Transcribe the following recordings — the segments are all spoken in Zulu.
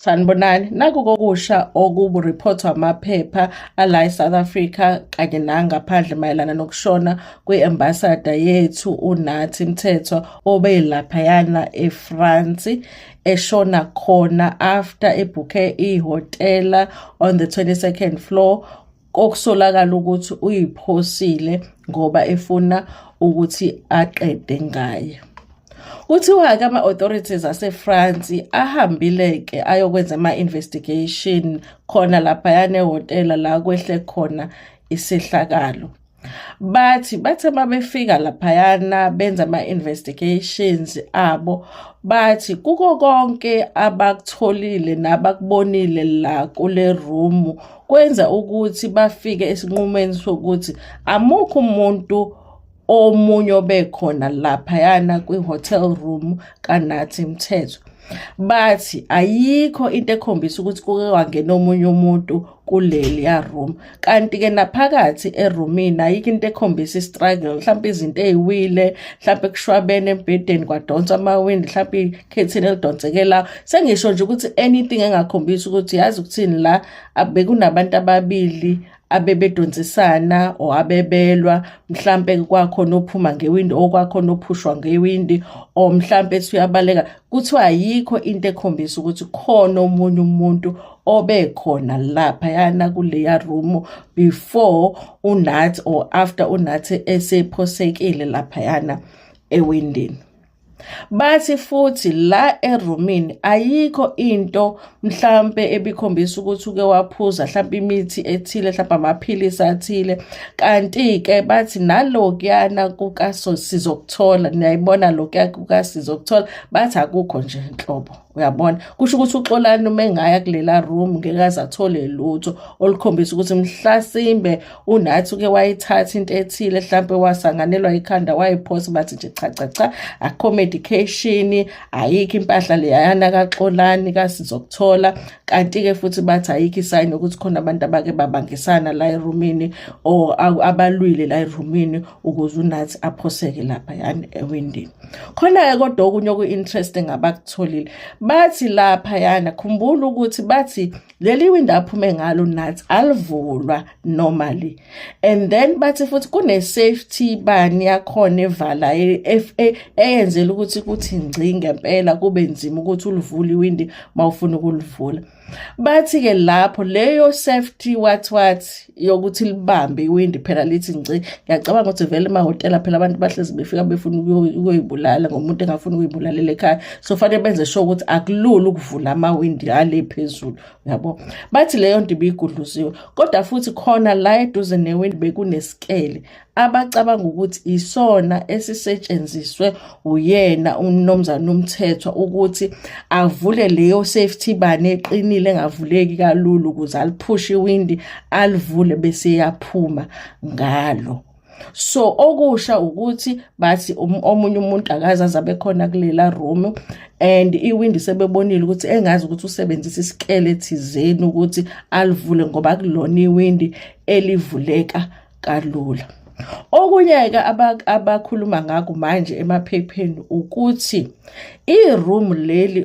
Sanibonani, naku kokusha okuburiphothwa amaphepha ala eSouth Africa kanye nangaphandle mayelana nokushona kwi-ambasada yethu uNathi Mthethwa obelaphayana eFrance eshona khona after ebhukhe ihhotela on the 22nd floor kokusolakala ukuthi uyiphosile ngoba efuna ukuthi aqede ngaye kuthiwa-ke ama-authorities asefrance ahambile-ke ayokwenza ama-investigation khona laphayana ehhotela la kwehle khona isehlakalo bathi bathe babefika laphayana benza ama-investigations abo bathi kuko konke abakutholile nabakubonile la kule room kwenza ukuthi bafike esinqumeni sokuthi amukho umuntu omunye obekhona laphayana kwi-hotel room kanathi mthetho bathi ayikho into ekhombisa ukuthi kuke kwangena omunye umuntu kuleliya room kanti ke naphakathi eroomini ayikho into ekhombisa istruggle mhlawumbe izinto eziwile mhlawumbe kushwabene embhedeni kwadonsa amawindi mhlawumbe ikhethini elidonseke la sengisho nje ukuthi anything engakhombisa ukuthi yazi ukuthini la bekunabantu ababili abebedonsisana or abebelwa mhlampe kwakhona ophuma ngewindi okwakhona ophushwa ngewindi or mhlampe esuyabaleka kuthiwa ayikho into ekhombisa ukuthi khona omunye umuntu obekhona lapha yana kuleya room before unathi or after unathi esephosekile lapha yana ewindini bathi futhi la erumini ayikho into mhlampe ebikhombisa ukuthi uke waphuza mhlampe imithi ethile mhlampe amaphilisi athile kanti-ke bathi nalokuyana kukaso sizokuthola niyayibona lokuya kukasizokuthola bathi akukho nje nhlobo uyabona kusho ukuthi uxolani uma engaya kulela room ngekaze athole lutho olukhombisa ukuthi mhlasimbe unathi uke wayithatha into ethile mhlampe wasanganelwa ikhanda wayiphosa bathi nje cha cha cha akho medication ayikho impahla leyana kaxolani kasizokuthola kanti-ke futhi bathi ayikho isayini yokuthi khona abantu abake babangisana la erumini or abalwile la erumini ukuze unathi aphoseke lapha yani ewindini khona-ke kodwa okunye oku-interesting abakutholile bathi lapha yana khumbula ukuthi bathi leli window aphume ngalo nathi alivulwa normally and then bathi futhi kune safety bani yakhona evala eFA eyenzela ukuthi kuthi ngci ngempela kube nzima ukuthi ulivule iwindi mawufuna ukulivula bathi ke lapho leyo safety wathi wathi yokuthi libambe iwindi phela lithi nci ngiyacabanga ukuthi vele emahhotela phela abantu bahlezi befika befuna ukuyoyibulala ngomuntu engafuni ukuyibulalela ekhaya so fanele benze sure ukuthi akulula ukuvula amawindi ale phezulu yabo bathi leyo nto ibiyigudluziwe kodwa futhi khona la eduze newindi bekunesikele abacabanga ukuthi isona esisetshenziswe uyena umnomzana umthethwa ukuthi avule leyo safety bani eqinile engavuleki kalula ukuze aliphushe iwindi alivule bese yaphuma ngalo so okusha ukuthi bathi um-, omunye umuntu akaze azabe khona kulela room and iwindi sebebonile ukuthi engazi ukuthi usebenzisa isikele thizeni ukuthi alivule ngoba kulona iwindi elivuleka kalula okunye-ke abakhuluma ngakho manje emaphepheni ukuthi i-room leli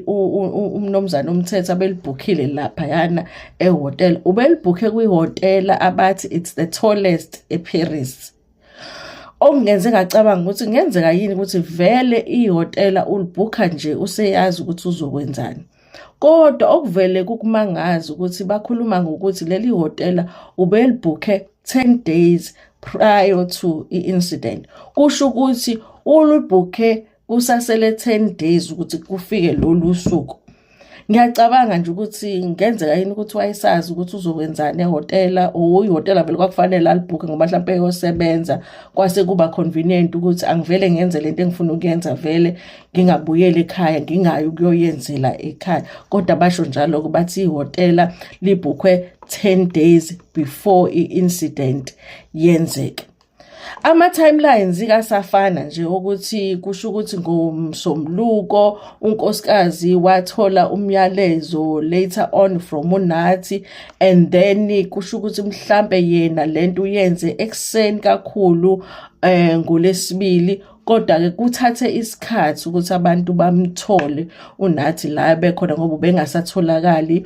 umnumzane umthetho abelibhukhile laphayana ehotel ubelibhukhe kwihhotela abathi it's the tallest eparis okungenze ngacabanga ukuthi kungenzeka yini ukuthi vele ihhotela ulibhukha nje useyazi ukuthi uzokwenzani Kodwa okuvele kukumangaza ukuthi bakhuluma ngokuthi leli hotela ubelibhukhe 10 days prior to i-incident. Kusho ukuthi ulubhukhe kusasele 10 days ukuthi kufike lolu suku. Ngiyacabanga nje ukuthi ngenzeka yini ukuthi wayesazi ukuthi uzokwenzani ehhotela or ihhotela vele kwakufanele alibhukhe ngoba mhlawumpe eyosebenza kwase kuba convenient ukuthi angivele ngenze lento engifuna ukuyenza vele ngingabuyela ekhaya ngingayi ukuyoyenzela ekhaya kodwa basho njalo ukuthi ihotela libhukhwe 10 days before i-incident yenzeke ama-timelines kasafana nje ukuthi kusho ukuthi ngomsombuluko unkosikazi wathola umyalezo later on from unathi and then kusho ukuthi mhlampe yena lento uyenze ekuseni kakhulu eh ngolesibili kodwa-ke kuthathe isikhathi ukuthi abantu bamthole unathi la bekhona ngoba ubengasatholakali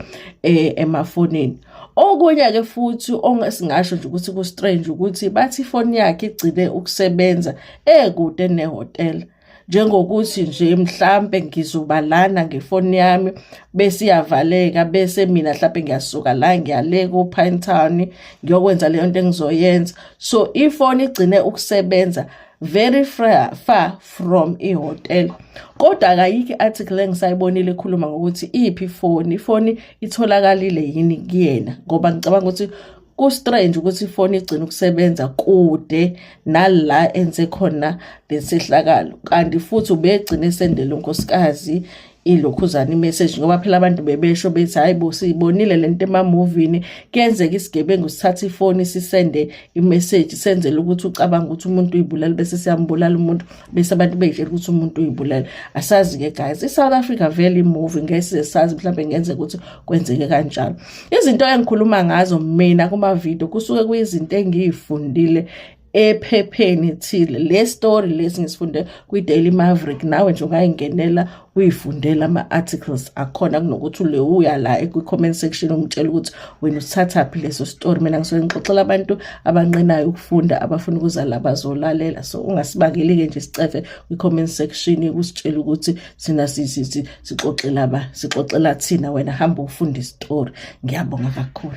um emafonini okunye-ke futhi ongesingasho nje ukuthi ku-strange ukuthi bathi ifoni yakhe igcine ukusebenza ekude nehhotela njengokuthi nje mhlampe ngizoba lana ngefoni yami bese iyavaleka bese mina mhlampe ngiyasuka la ngiyale ku-pine town ngiyokwenza leyo nto engizoyenza so ifoni igcine ukusebenza very far from ihotel kodwa akayikho i-article engisayibonile ekhuluma ngokuthi iphi ifoni ifoni itholakalile yini kuyena ngoba ngicabanga ukuthi ku-strange ukuthi ifoni igcina ukusebenza kude nala enze khona lesehlakalo kanti futhi ubegcine esendele unkosikazi ilokhuzana imessage ngoba phela abantu bebesho bethi hayi bo siyibonile lento emamovini kuyenzeka isigebengu sithatha ifoni sisende imessage senzele ukuthi ucabanga ukuthi umuntu uyibulala bese siyambulala umuntu bese abantu beyitshela ukuthi umuntu uyibulala asazi ke guys iSouth Africa vele imovie ngeke sazi mhlawumbe ngenzeka ukuthi kwenzeke kanjalo izinto engikhuluma ngazo mina kuma video kusuke kuyizinto engiyifundile ephepheni thile le story lesi ngisifunde kwi-daily maverick nawe nje ungayingenela uyifundela ama-articles akhona kunokuthi ulewuya la kwi-comment section umtshela ukuthi wena usithathaphi leso story mina ngisuke ngixoxela abantu abanqenayo ukufunda abafuna ukuza la bazolalela so ungasibakeli-ke nje sicefe kwi-comment section kusitshela ukuthi sina sixoxela ba sixoxela thina wena hamba ufunda isitori ngiyabonga kakhulu